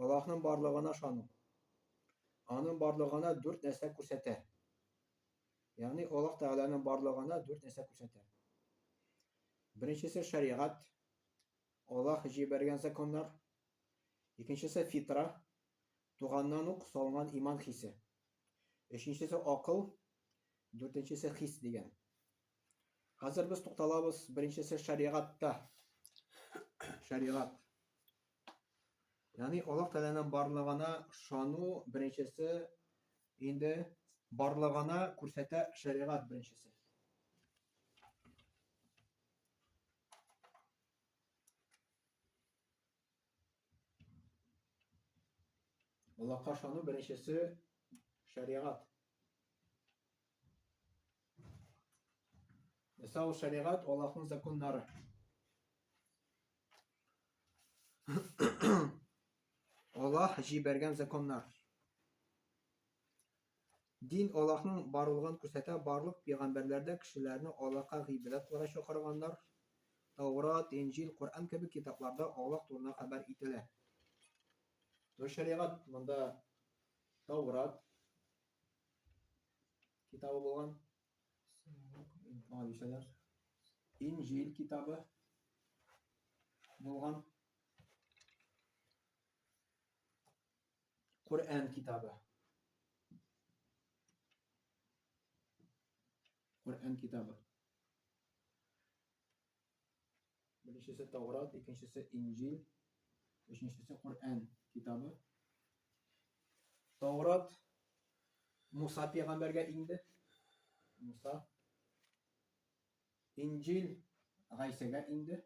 Аллаһның барлыгына ышану. Аның барлыгына дүрт нәрсә күрсәтә. Ягъни Аллаһ Тәгаләнең барлыгына дүрт нәрсә күрсәтә. Беренчесе шәригать, Аллаһ җибәргән законнар. Икенчесе фитра, туганнан ук салган иман хисе. Өченчесе акыл, дүртенчесе хис дигән. Хәзер без тукталабыз беренчесе шәригатьтә. Шәригать. Яни Аллаһ Тәгаләнең барлыгына шану беренчесе инде барлыгына күрсәтә шәригат беренчесе. Аллаһка шану беренчесе шәригат. Мәсәл шәригат Аллаһның законнары. Аллаһ җибәргән законнар. Дин Аллаһның барлыгын күрсәтә, барлык пәйгамбәрләр дә кешеләрне Аллаһка гыйбадәт кылырга чакырганнар. Таурат, Инҗил, Коръән кебек китапларда Аллаһ турында хәбәр ителә. То шәригать монда Таурат китабы булган. Хадишәләр. Инҗил китабы булган. Коръән китабы. Коръән китабы. Беренчесе Таурат, икенчесе Инҗил, өченчесе Коръән китабы. Таурат Муса пәйгамбәргә инде. Муса. Инҗил Гайсәгә инде.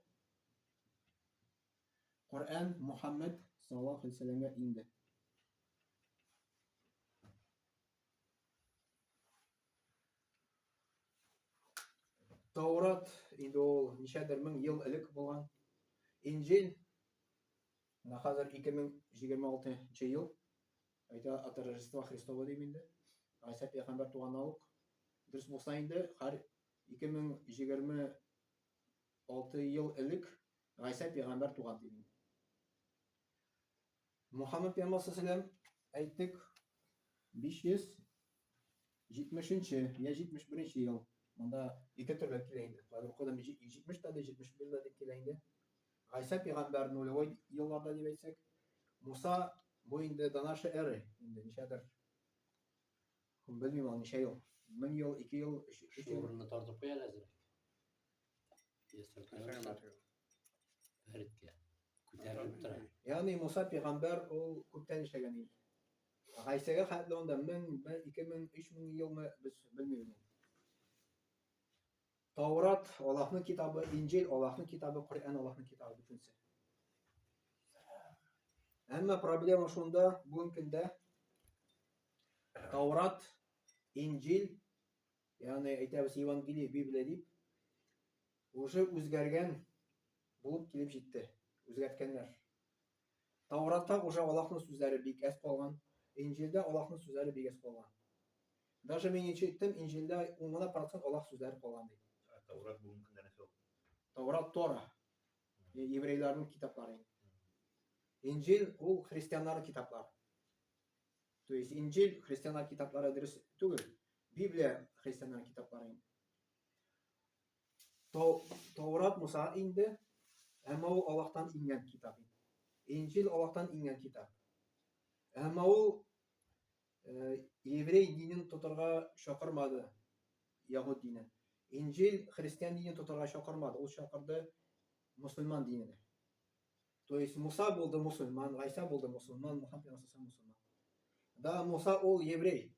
Коръән Мухаммед саллаллаһу алейһи ва инде. Таурат инде ул ничәдер мең ел элек булган. Инҗил менә хәзер 2026 ел. Әйтә от Рождества Христова дим инде. Гайса пәйгамбәр туганнан ук. Дөрес булса инде һәр 2026 ел элек Гайса пәйгамбәр туган дим. Мөхәммәд пәйгамбәр саллаллаху әйттек, 570-нче я 71-нче ел. Монда ике төрле килә инде. Кайбер укыдым 70 та 71 дә дип килә инде. Гайса пәйгамбәр нулевой елларда дип әйтсәк, Муса бу инде до нашей эры, инде ничәдер. Белмим ул ничә ел. 1000 ел, 2 ел, 3 ел. Шул урынны тартып куя әзер. Yes, sir. Yes, sir. Yes, sir. Күтәрелеп тора. Ягъни Муса пигамбәр ул күптән эшләгән инде. Гайсәгә хәтле анда 1000, 2000, 3000 елмы без белмибез. Таурат Аллаһның китабы, Инҗил Аллаһның китабы, Коръән Аллаһның китабы бөтенсе. Әмма проблема шунда, бүгенге көндә Таурат, Инҗил Ягъни, әйтәбез, Евангелие, Библия дип, уже үзгәргән булып килеп җитте. Үзгәрткәннәр. Тауратта уже Аллаһның сүзләре бик әз калган, Инҗилдә Аллаһның сүзләре бик әз калган. Даже мин ничек иттем, Инҗилдә 10 гына процент Аллаһ сүзләре калган ди. Таурат бүгенге көндә нәрсә ул? Таурат Тора. Еврейларның китаплары. Инҗил ул христианнарның китаплары. То есть Инжил христианнар китаплары дөрес түгел. Библия христианнар китаплары инде. Таурат Муса инде, әмма ул Аллаһтан иңгән китап инде. Инжил Аллаһтан иңгән китап. Әмма ул э, еврей динен тотарга чакырмады яһуд дине. Инжил христиан динен тотарга чакырмады, ул чакырды мусульман диненә. То есть Муса булды мусульман, Гайса булды мусульман, Мухаммед Расулса мусульман. Да Муса ул еврей,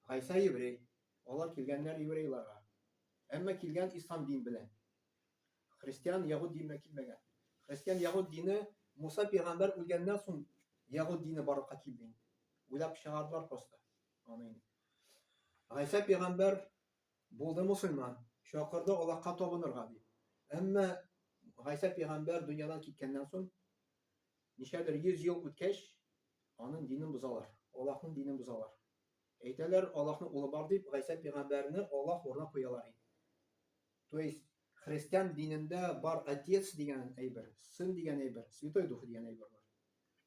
Гайса еврей, алар килгәннәр еврейларга. Әмма килгән ислам дин белән. Христиан ягуд диненә килмәгән. Христиан ягуд дине Муса пигамбер үлгәннән соң ягуд дине барлыкка килде. Уйлап чыгардылар просто. Аны инде. Гайса пигамбер Булды мосылман, чакырды Аллаһка табынырга, дип. Әмма Гайсә пәйгамбәр дөньядан киткәннән соң, ничәдер йөз ел үткәч, аның динен бозалар, Аллаһның динен бозалар. Әйтәләр, Аллаһның улы бар дип, Гайсә пәйгамбәрне Аллаһ урынына куялар иде. То есть, христиан динендә бар отец дигән әйбер, сын дигән әйбер, святой дух дигән әйбер бар.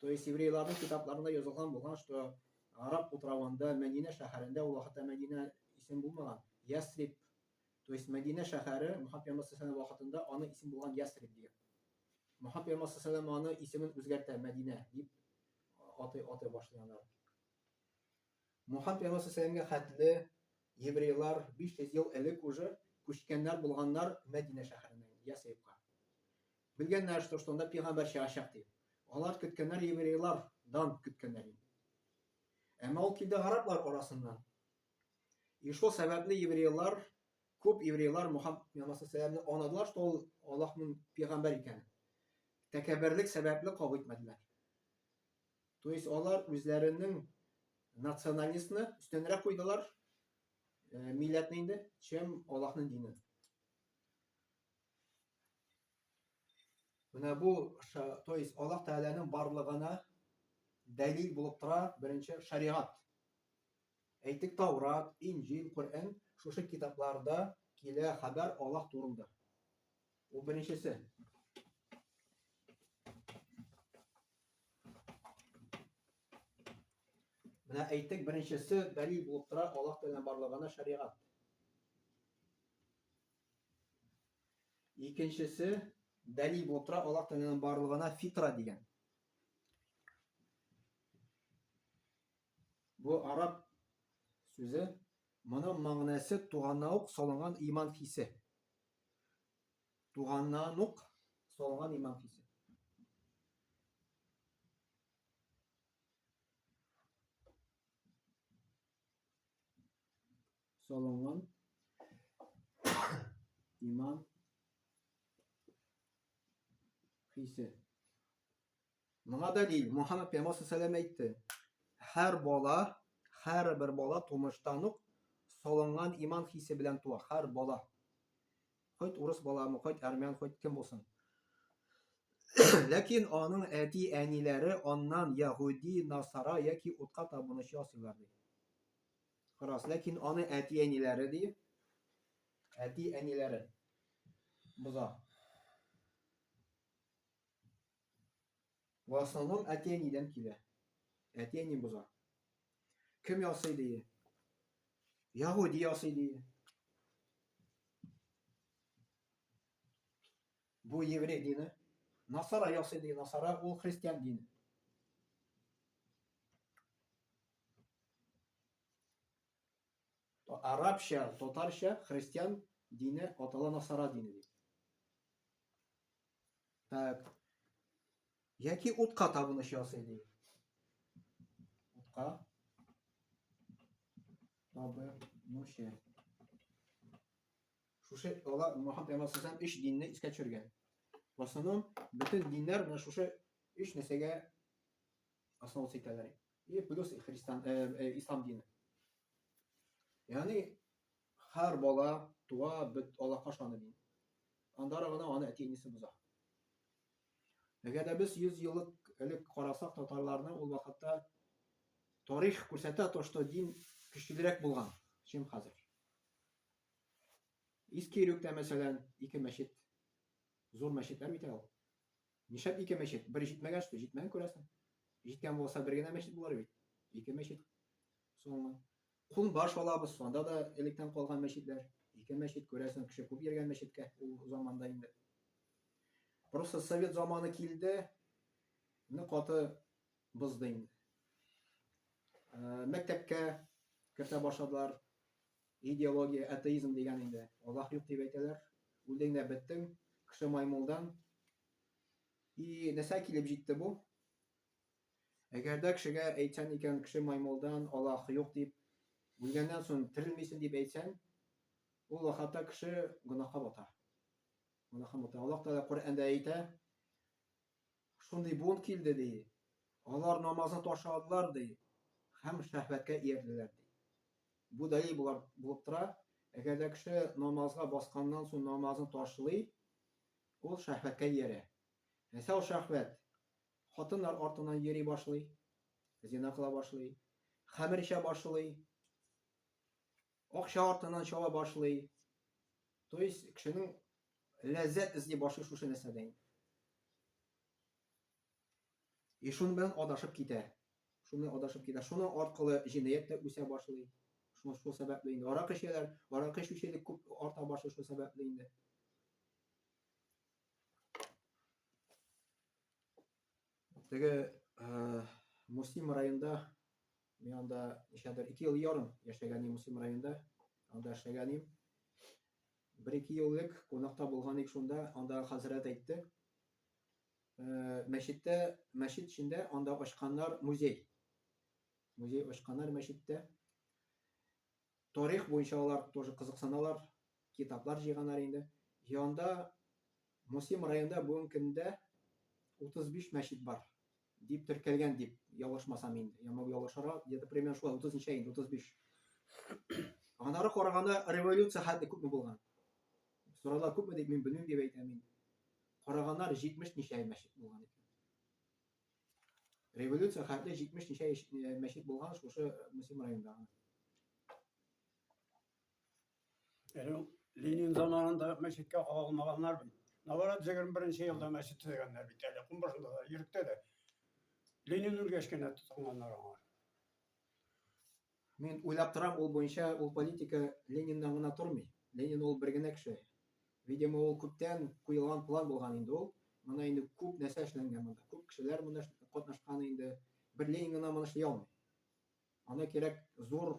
То есть еврейларның китапларында язылган булган, что Араб утравында, Мәдинә шәһәрендә, ул вакытта Мәдинә исем булмаган, Ясрип. То есть Мәдинә шәһәре Мухаммад пәйгамбәр саллаллаху вакытында аны исем булган Ясрип дигән. Мухаммад пәйгамбәр саллаллаху аны исемен үзгәртә Мәдинә дип аты аты башлыйлар. Мохаб янасы Сәламгә хәтле еврейлар 500 ел элек уже күчкәннәр булганнар Мәдинә шәһәреннән Ясрибка. Белгәннәр, что что анда пигамбәр чыгачак дип. Алар көткәннәр еврейлар дан көткәннәр инде. Әмма ул килде гараплар арасыннан. И шул сәбәпле еврейлар, күп еврейлар Мухаммад янасы Сәламне анадылар, что ул Аллаһның пигамбәр икәнен. Тәкәббәрлек сәбәпле кабул итмәделәр. То есть алар үзләренең националистны өстенрәк куйдылар, э, милләтне инде, чем Аллаһның динен. Менә бу, то есть Аллаһ Тәгаләнең барлыгына дәлил булып тора беренче шариат. Әйтик, Таурат, Инҗил, Коръән, шушы китапларда килә хәбәр Аллаһ турында. Бу беренчесе. Менә әйтек беренчесе бәли булып тора Аллаһ Тәгалә барлыгына шәригать. Икенчесе бәли булып тора Аллаһ Тәгалә барлыгына фитра дигән. Бу араб сүзе, моның мәгънәсе туганнан ук салынган иман хисе. Туганнан ук салынган иман хисе. Салынган иман хисе. Моңа дәлил Мухаммад пәйгамбәр саллаллаху әйтте. Һәр бала, һәр бер бала тумыштан ук салынган иман хисе белән туа. Һәр бала. Хоть урыс баламы, хоть армян, хоть кем булсын. Ләкин аның әти әниләре аннан яһуди, насара яки утка табынучы ясыйлар ди. Карас, ләкин аны әти әниләре ди. Әти әниләре боза. В основном әти әнидән килә. Әти әни боза. Кем ясый дие? Яһуди ясый дие. Бу еврей дине. Насара ясый дие. Насара ул христиан дине. Арабча, татарча христиан дине атала насара дине. Так. Яки утка табыныш ясый ди. Утка табынучы. Шушы ала Мухаммад пәйгамбәр саллаллаху алейһи динне искә төшергән. В основном бөтен диннәр менә шушы өч нәрсәгә основа итәләр. И плюс христиан э, э, ислам дине. Ягъни Хәр бала туа бет алакаш аны мин. Андары гына аны әти-әнисе боза. Әгәр дә без 100 еллык элек карасак татарларның ул вакытта тарих күрсәтә то, что дин көчлерәк булган, чем хәзер. Иске Иректә мәсәлән ике мәчет, зур мәчетләр бит ул. Нишәп ике мәчет? Бер җитмәгән что, җитмәгән күрәсең. Җиткән булса бер генә мәчет булыр бит. Ике мәчет. Соңмы? Кул баш алабыз, анда да электән калган мәчетләр, ике мәчет, күрәсең, кеше күп йөргән мәчеткә ул заманда инде. Просто совет заманы килде, не каты бызды инде. Э, мәктәпкә кертә башладылар, идеология, атеизм дигән инде, Аллах юк дип әйтәләр, үлдең дә беттең, кеше маймылдан. И нәрсә килеп җитте бу? Әгәр дә кешегә әйтсән икән, кеше маймылдан Аллаһ юк дип, үлгәннән соң терелмисен дип әйтсән, ул вакытта кеше гөнаһка бата. Гөнаһка бата. Аллаһ Тәгалә Коръәндә әйтә, шундый буын килде ди. Алар намазны ташладылар ди, һәм шәһвәткә иярделәр ди. Бу дәлил булар булып тора. Әгәр дә кеше намазга басканнан соң намазны ташлый, ул шәһвәткә иярә. Әсәү шәһвәт Хатыннар артыннан йөри башлый, зина кыла башлый, хәмер эчә башлый, акча артыннан чаба башлый. То есть, кешенең ләззәт эзли башлый шушы нәрсәдә инде. И шуның белән адашып китә. Шуны адашып китә. Шуның аркылы җинаять та үсә башлый. Шул шул сәбәпле инде. Арак эчәләр, арак эчүчелек күп арта башлый шул сәбәпле инде. Теге э, Мусим районында мин анда ничәдер ике ел ярым яшәгән идем Мусим районында. Анда эшләгән идем. Бер-ике ел элек кунакта булган идек шунда, анда хәзрәт әйтте. Э, мәчеттә, мәчет эчендә анда ачканнар музей. Музей ачканнар мәчеттә. Тарих буенча алар тоже кызыксаналар, китаплар җыйганнар инде. Җыенда Мусим районында бүгенге көндә 35 мәчет бар дип теркәлгән дип ялгышмасам инде. Ямау ялгышара, где-то примерно шулай 30 ничә инде 35. Анары караганда революция хәтле күпме булган? Сорала күпме дип мин белмим дип әйтәм инде. Караганнар 70 ничә мәчет булган икән. Революция хәтле 70 ничә э, мәчет булган шушы э, Мусим районында. Әле Ленин заманында мәчеткә кагылмаганнар бит. Наоборот, 21-нче елда мәчет төзегәннәр бит әле. Кунбашында да, Иректә дә. Ленин үлгәч кенә тотынганнар аңа. Мин уйлап торам, ул буенча ул политика Лениннан гына тормый. Ленин ул бер генә кеше. Видимо, ул күптән куелган план булган инде ул. Монда инде күп нәрсә эшләнгән монда. Күп кешеләр монда катнашкан инде. Бер Ленин гына моны эшли алмый. Аны кирәк зур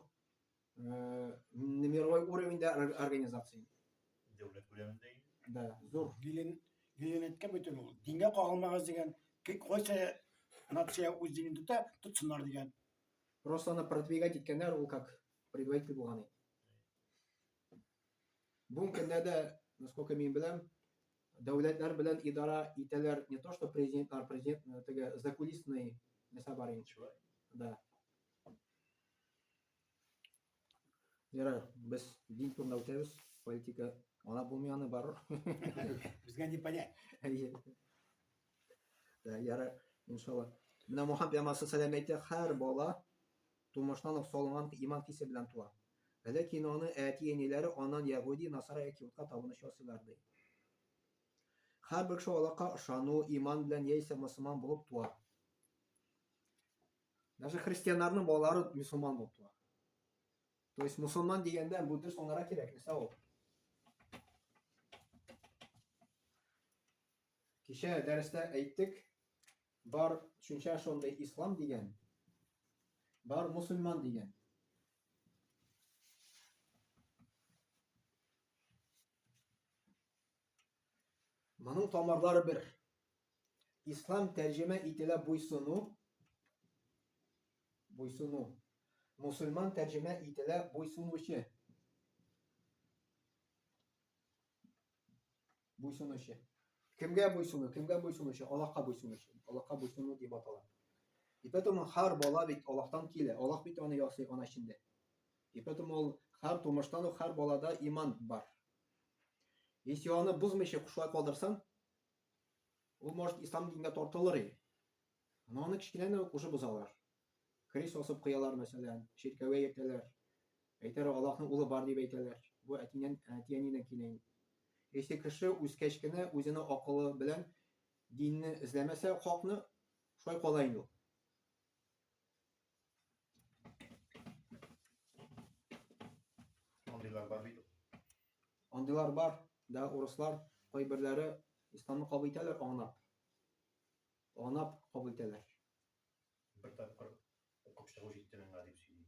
э, мировой уровеньдә организация. Дәүләт күләмендә инде. Да, зур. Ленин Ленин әйткән бит ул. Дингә кагылмагыз дигән. Кайсы нация үз динен тота, тотсыннар дигән. Просто аны продвигать иткәннәр, ул как предводитель булган иде. Бүгенге көндә дә, насколько мин беләм, дәүләтләр белән идара итәләр не то, что президентлар, президент э, теге закулисный нәрсә бар инде. Да. Ярар, без дин турында үтәбез, политика ана булмый аны бар. Безгә не понять. Да, ярар, иншалла. Менә Мухаммед пәйгамбәрсе сәлам әйтә, һәр бала тумыштан ук салынган иман кисе белән туа. Ләкин аны әти-әниләре анан ягуди, насара яки утка табыныч ясыйлар ди. Һәрбер кеше Аллаһка ышану, иман белән яисә мөселман булып туа. Даже христианнарның балалары мусульман булып туа. То есть мусульман дигәндә бу дөрес аңлара кирәк, нәрсә ул? Кичә дәрестә әйттек, бар төшенчә шундый ислам дигән, бар мусульман дигән. Моның тамырлары бер. Ислам тәрҗемә ителә буйсыну, буйсыну. Мусульман тәрҗемә ителә буйсынучы. Буйсынучы. Кемгә буйсыну, кемгә буйсынучы, Аллаһка буйсынучы. Аллаһка буйсыну дип атала. И поэтому хар бала бит Аллаһтан килә. Аллаһ бит аны ясый ана эчендә. И поэтому ул хар тумыштан ук хар балада иман бар. Если аны бозмыйча шулай калдырсаң, ул может ислам дингә тартылыр иде. Но аны кечкенәне үк уже бозалар. Крест асып куялар, мәсәлән, чиркәүгә йөртәләр. Әйтәр Аллаһның улы бар дип әйтәләр. Бу әтинен, әтиәнинен килә инде. Если кеше үскәч кенә үзенең акылы белән динне эзләмәсә, хакны шулай кала инде ул. Андыйлар бар бит. Андыйлар бар, да урыслар кайберләре исламны кабул итәләр анап. Анап кабул итәләр. Бер тапкыр укып чыгу җитте миңа дип сөйли.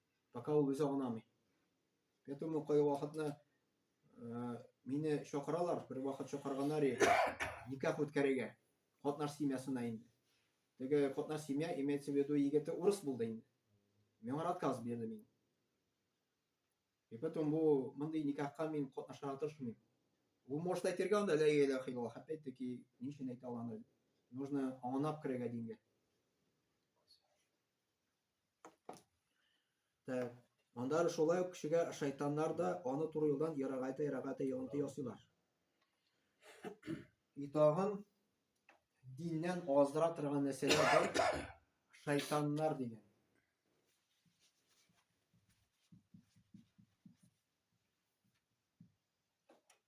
Пока ул үзе анамый. Я думаю, кое вакытны э, мине чакыралар, бер вакыт чакырганнар иде. Никах үткәрергә. Катнаш семьясына инде. Теге катнаш семья имеется в виду егете урыс булды инде. Миңа отказ бирде мин. И потом бу мондый никахка мин катнашырга тырышмыйм. Бу может әйтергә анда лә илә хилла. Опять-таки, ни өчен әйтә алам? Нужно анап керергә дингә. Так. Анда шулай ук кешегә шайтаннар да аны туры юлдан ярагайта ярагайта йогынты ясыйлар. И тагын диннән аздыра торган нәрсәләр бар. Шайтаннар дигән.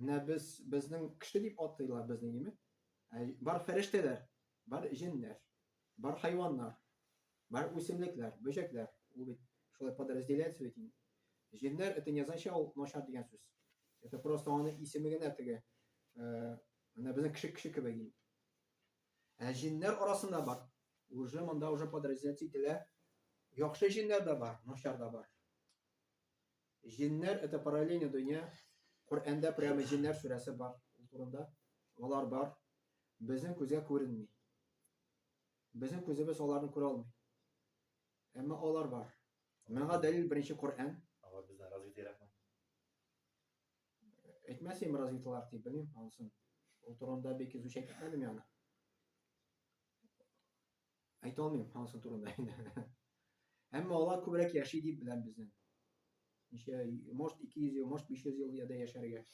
Менә без безнең кеше дип атыйлар безнең имет. Ә бар фәрештәләр, бар җеннәр, бар хайваннар, бар үсемлекләр, бөҗәкләр. Ул бит шулай подразделяется бит инде. Җеннәр это не означает ул начар дигән сүз. Это просто аны исеме генә теге. Э, менә безнең кеше кеше кебек инде. Ә җеннәр арасында бар. Уже монда уже подразделяться ителә. Яхшы җеннәр дә бар, начар да бар. Җеннәр это параллельный дөнья. Коръәндә прямо җеннәр сүрәсе бар ул турында. Алар бар. Безнең күзгә күренми. Безнең күзебез аларны күрә алмый. Әмма алар бар. Моңа дәлил беренче Коръән. Алар бездән развитыйракмы? Әйтмәс инде развитыйлар дип белмим анысын. Ул турында бик изучать итмәдем яна. Әйтә алмыйм анысы турында инде. Әмма алар күбрәк яши дип беләм безнең. Ничә, может 200 ел, может 500 ел яда яшәргә.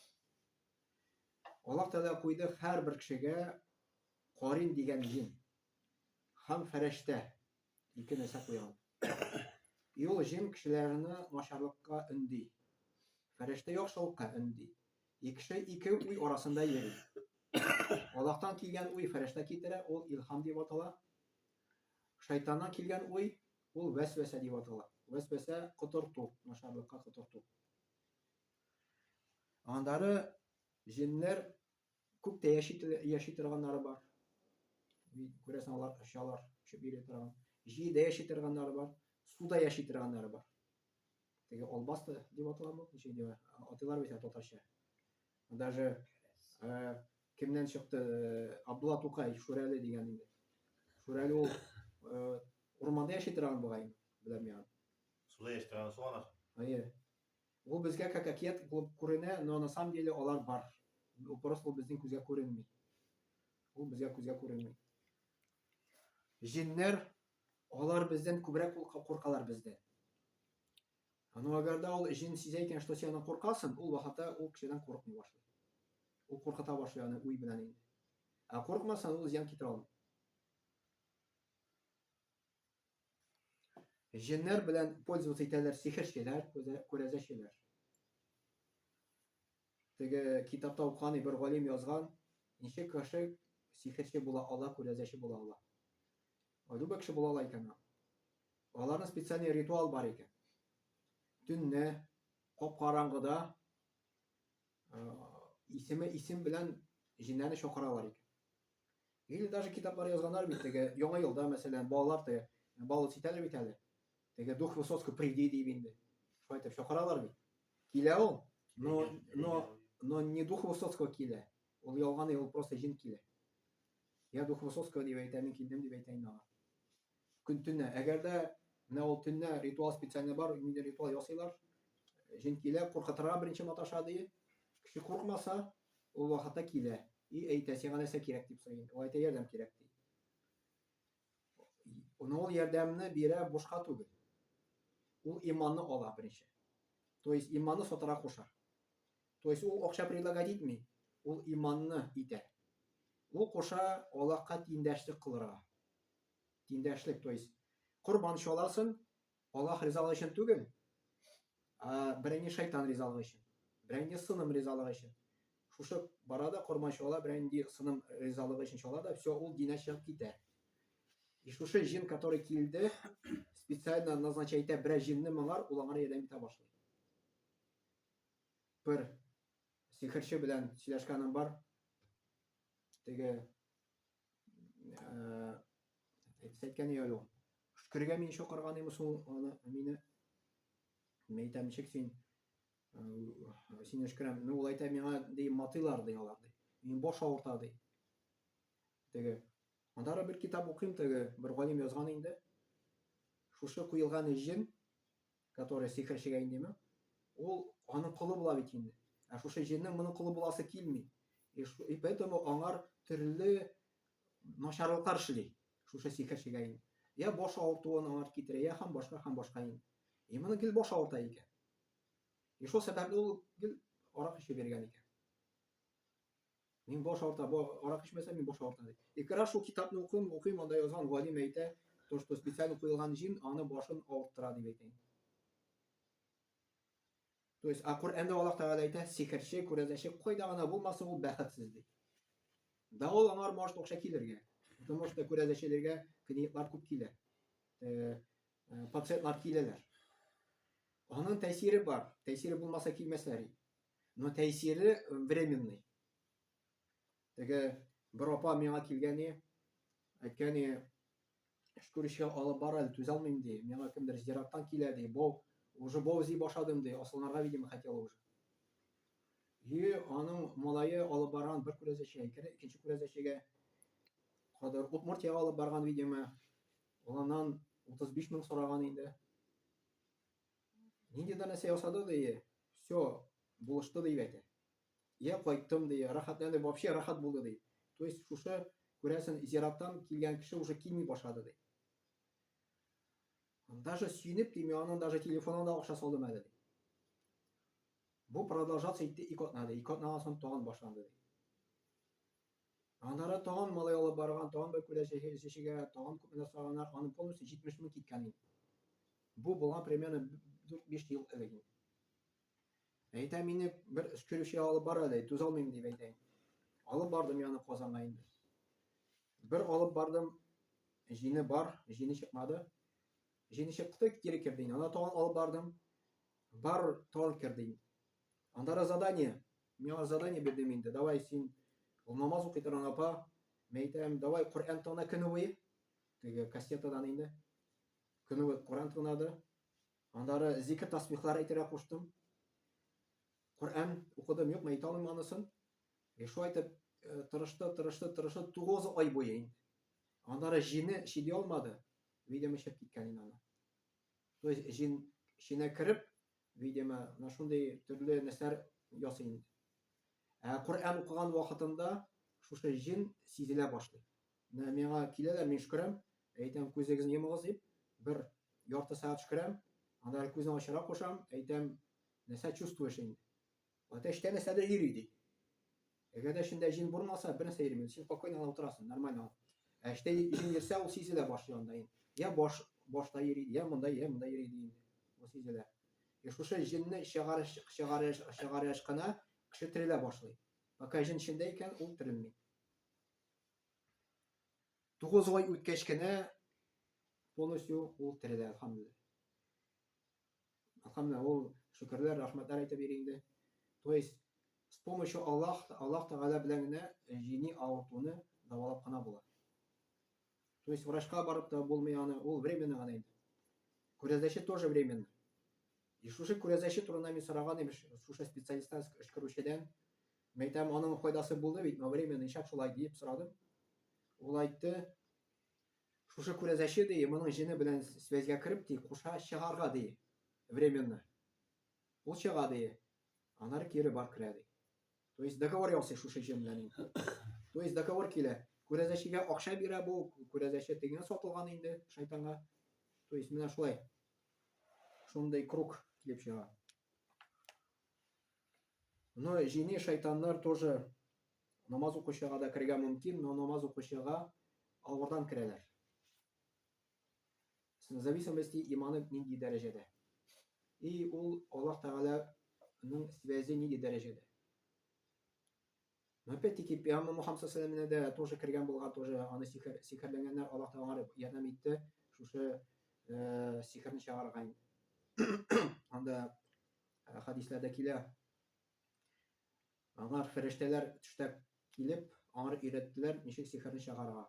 Аллаһ Тәгалә куйды һәрбер кешегә карин дигән җин һәм фәрештә ике нәрсә куйган. Юл җин кешеләрне начарлыкка өнди. Фәрештә яхшылыкка өнди. Икеше ике уй арасында йөри. Аллаһтан килгән уй фәрештә китерә, ул илһам дип атала. Шайтаннан килгән уй, ул вәсвәсә дип атала. Вәсвәсә котырту, начарлыкка котырту. Аннары җеннәр күп тә яши, яши торганнары бар. Күрәсең, алар очалар, очып йөри торган. Җирдә яши торганнары бар, суда яши торганнары бар. теге албасты дип аталамы ничек дип атыйлар бит ә татарча даже ә, кемнән чыкты э, абдулла тукай шүрәле дигән инде шүрәле ул э, урманда яши торган бугай беләм миңа суда яши торган суанар әйе ул безгә как акет булып күренә но на самом деле алар бар просто ул безнең күзгә күренми ул безгә күзгә күренми җеннәр Алар бездән күбрәк кул куркалар бездән. А ну агарда ул җен сизә икән, что сине куркасың, ул вахата ул кешедән курыкмый башлый. Ул куркыта башлый аны уй белән инде. А куркмаса ул зиян китерә алмый. Җеннәр белән пользоваться итәләр сихерчеләр, күрәзәчеләр. Теге китапта укыган бер галим язган, ничек кеше сихерче була ала, күрәзәче була ала. Любой кеше була ала икән ул. Аларның специальный ритуал бар икән. Төнне кап-караңгыда исеме исем белән җиннәрне чакыралар икән. Или даже китаплар язганнар бит теге яңа елда мәсәлән балалар теге балл ситәләр бит әле. Теге дух Высоцкий приди дип инде. Шулай итеп чакыралар бит. Килә ул. Но но но не дух Высоцкого килә. Ул ялган ул просто җен килә. Я дух Высоцкого дип әйтә, мин килдем дип әйтә инде аңа. Көн төнә. Әгәр дә менә ул төнә ритуал специально бар, инде ритуал ясыйлар. Җен килә, куркытырга беренче маташа ди. Кеше куркмаса, ул вакытта килә. И әйтә, сиңа нәрсә кирәк дип сорый. Ул әйтә, ярдәм кирәк ди. Ул ну, ярдәмне бирә бушка түгел. Ул иманны ала беренче. То есть иманны сатара куша. То есть ул акча предлагать итми, ул иманны итә. Ул куша Аллаһка тиңдәшлек кылырга. Тиңдәшлек, то есть корбан чаласын, Аллаһ ризалыгы өчен түгел, ә берәңге шайтан ризалыгы өчен, берәңге сыным ризалыгы өчен. Шушы бара да корма чала, берәңге сыным ризалыгы өчен чала да, все, ул динә чыгып китә. И шушы җин, который килде, специально назначай итә берәр җинне моңар, ул аңар ярдәм итә башлый. Бер сихерче белән сөйләшкәнем бар. Теге Әйтсәткән ие әле ул. Шөкергә мин шокырган имеш ул аны мине. Мин әйтәм, ничек син сине шөкерәм. Ну, ул әйтә миңа ди матыйлар ди алар ди. Мин баш авырта ди. Теге. Анда бер китап укыйм теге, бер галим язган инде. Шушы куелган җен Который сихерчегә индеме? Ул аның колы була бит инде. Ә шушы җеннең моның колы буласы килми. И поэтому аңар төрле начарлыклар эшли. Шушы сихерчегә инде. Я баш авыртуын аңар китерә, я һәм башка һәм башка инде. И моны гел баш авырта икән. И шул сәбәпле ул гел арак эчеп йөргән икән. Мин баш авырта, бу арак эчмәсә, мин баш авырта ди. Ике раз шул китапны укыйм, укыйм, анда язган галим әйтә, то, что специально куелган җим аны башын авырттыра дип әйтә. То есть, а Коръәндә Аллаһ Тәгалә әйтә, сихерче, күрәзәче кайда гына булмасын, ул бәхетсез ди. Да ул аңар может акча килергә. Потому что күрәзәчеләргә клиентлар күп килә. Э, э, пациентлар киләләр. Аның тәэсире бар. Тәэсире булмаса килмәсләр. Но тәэсире временный. Теге бер апа миңа килгәне, әйткәне, шкүречкә алып бар әле, түзә алмыйм ди. Миңа кемдер зираттан килә ди. Бау, уже бау зи башладым ди. Асылнарга, видимо, хотела уже. И аның малае алып барган бер күрәзәчегә, икенче күрәзәчегә кадәр Удмуртиягә алып барган, видимо, уланнан 35 мең сораган инде. Нинди дә нәрсә ясады дие, все, булышты дип әйтә. Я кайттым дие, рәхәтләнде, вообще рәхәт булды ди. То есть шушы күрәсен зираттан килгән кеше уже килми башлады ди. Даже сөенеп ди, мин аның даже телефонына да акча салдым әле ди. Бу продолжаться итте ике атнада, ике атнадан соң тагын башланды ди. Аннары тагын малай алып барган, тагын бер күлә чәчегә, тагын күп нәрсә алганнар, аның полностью 70 мең киткән инде. Бу булган примерно 4-5 ел элек инде. Әйтә мине бер өскерүче алып бара ди, түз алмыйм дип әйтәйм. Алып бардым яны Казанга инде. Бер алып бардым, җине бар, җине чыкмады. Җине чыкты, кире керде инде. Ана тагын алып бардым, бар тагын керде инде. Анда да задание. Мин аңа задание бирдем инде. Давай син ул намаз укый торган апа. Мин әйтәм, давай Коръән тона көне буе. Теге кассетадан инде. Көне буе Коръән тонады. Андары зикр тасбихлар әйтергә куштым. Коръән укыдым, юк, әйтә алмыйм анысын. И шулай итеп э, тырышты, тырышты, тырышты 9 ай буе инде. Андары җине чиди алмады. Видимо, чыгып киткән инде аны. То есть җин чинә кереп, видимо, менә шундый төрле нәрсәләр ясый инде. Ә Коръән укыган вакытында шушы җен сизелә башлый. Менә миңа киләләр, мин шөкерәм, әйтәм, күзегезне йомыгыз дип, бер ярты сәгать шөкерәм, анда күзне ачара кушам, әйтәм, нәрсә чувствуешь инде. Әтәч теләсә дә йөри, ди. Әгәр дә эчендә җен булмаса, бернәрсә йөрмәс. Син спокойно гына утырасың, нормально гына. Ә эчтә җен йөрсә, ул сизелә башлый анда инде. Я баш, башта йөри, я монда, я монда йөри ди инде. Ул сизелә. И шушы җенне чыгарыш, чыгарыш, чыгарыш кына кеше терелә башлый. Пока җен эчендә икән, ул терелми. Тугыз ай үткәч кенә полностью ул терелә, алхамдулилла. Ахамна ул шөкерләр, рәхмәтләр әйтеп йөри инде. То есть с помощью Аллах, Аллах Тәгалә белән генә э, җини авыртуны дәвалап кына була. То есть врачка барып та булмый аны, ул временно гына инде. Күрәзәче тоже временно. И шушы күрәзәче турында мин сораган имеш, шушы специалисттан эшкәрүчедән. Мин әйтәм, аның файдасы булды бит, но временно ишәк шулай диеп сорадым. Ул айтты, Шушы күрәзәче, ди, моның җене белән связьгә кереп, ди, куша чыгарга, ди, временно. Ул чыга, ди, анары кире бар керә, ди. То есть договор ясый шушы җен белән инде. То есть договор килә. Күрәзәчегә акча бирә бу, күрәзәче тегеңә сатылган инде шайтанга. То есть менә шулай. Шундый круг килеп чыга. Но җини шайтаннар тоже намаз укучыга да керергә мөмкин, но намаз укучыга авырдан керәләр. В зависимости иманы нинди дәрәҗәдә. И ул Аллаһ Тәгаләнең связи нинди дәрәҗәдә. Опять-таки, пиамы Мухаммад сәләменә дә тоже кергән булган, тоже аны сихер, сихерләнгәннәр, Аллаһ та аңар ярдәм итте, шушы э, сихерне чыгарырга инде. Анда э, хадисләрдә килә, аңар фәрештәләр төштәп килеп, аңар өйрәттеләр, ничек сихерне чыгарырга.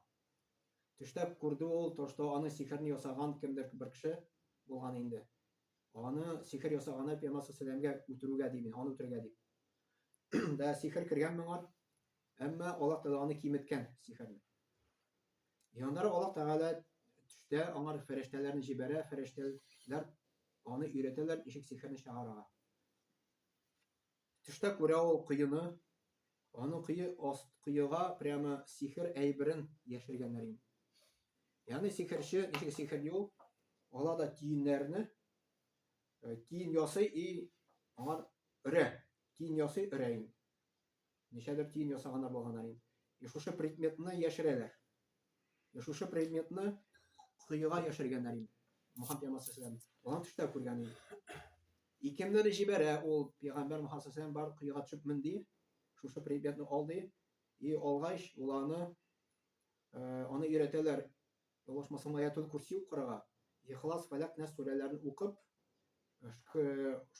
Төштәп күрде ул, то, что аны сихерне ясаган кемдер бер кеше булган инде. Аны сихер ясаганы пиамасы сәләмгә үтерүгә димен, аны үтерергә дип. да сихер кергән моңа, әмма Аллаһ Тәгалә аны киметкән сихерне. Яннары Аллаһ Тәгалә төштә аңар фәрештәләрне җибәрә, фәрештәләр аны өйрәтәләр ничек сихерне чыгарырга. Төштә күрә ул коены, аны кое аст коега прямо сихер әйберен яшергәннәр инде. Ягъни сихерче ничек сихер юл, ала да тиеннәрне, э, тиен ясый и аңар өрә. Тиен ясый өрәен. Ничәдер тиен ясаганнар болганаен. И шушы предметны яшерәләр. И шушы предметны коега яшергәннәр инде. Мухаммед пәйгамбәр сәләм. Алан төштә күргән инде. И кемнәр җибәрә ул пәйгамбәр Мухаммед сәләм бар коега төшеп менди. Шушы предметны алды. И алгач, уланы э, аны өйрәтәләр Ялгышмасам, Аятул-Курси укырга, Ихлас, Фәләк, Нәс сүрәләрен укып,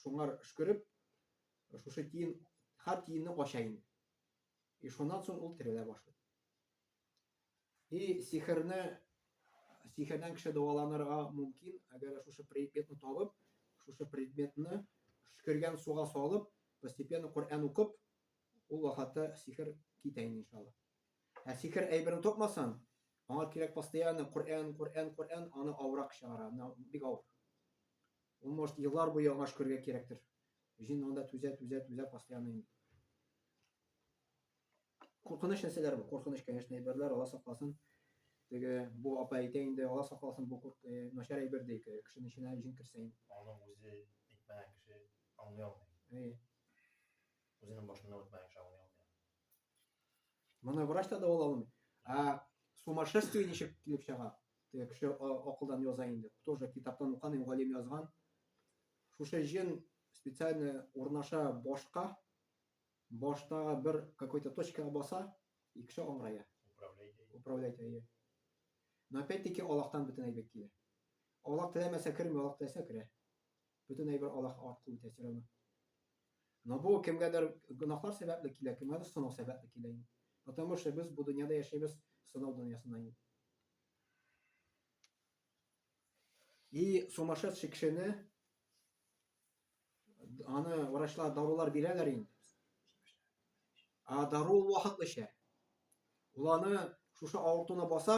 шуңар шкөреп, шушы тиен, хар тиенне ача инде. И шуннан соң ул терелә башлый. И сихерне, сихердән кеше дәваланырга мөмкин, әгәр шушы предметны табып, шушы предметны шкергән суга салып, постепенно Коръән укып, ул вакытта сихер китә инде иншалла. Ә сихер әйберен тапмасаң, аңа кирәк постоянно Коръән, Коръән, Коръән, аны авырак чыгара, менә бик авыр. Ул может еллар буе аңа шөкергә кирәктер. Җин анда түзә, түзә, түзә постоянно инде. Куркыныч нәрсәләр бу, куркыныч, конечно, әйберләр, Алла сакласын. Теге бу апа әйтә инде, Алла сакласын, бу курк, э, начар әйбер ди, кешенең эченә җин керсә инде. Аны үзе әйтмәгән кеше аңлый алмый. Әйе. Үзенең башыннан үтмәгән кеше аңлый алмый. Моны врач та дәваламый. Ә сумасшествие ничек килеп чыга? Теге кеше акылдан яза инде. Тоже китаптан уканым, галим язган. Шушы җен специально урнаша башка, баштагы бер какой-то точкага баса, и кеше аңгырая. Управлять әйе. Но опять-таки Аллахтан бөтен әйбәт килә. Аллах теләмәсә керми, Аллах теләсә керә. Бөтен әйбер Аллаһ аркылы үтә чирәмә. Но бу кемгәдер гөнаһлар сәбәпле килә, кемгәдер сынау сәбәпле килә инде. Потому что без бу дөньяда яшәйбез сынау дөньясында инде. И сумасшедший кешене аны врачлар дарулар бирәләр инде. А дару вакытлыча. Ул аны шушы авыртуны баса,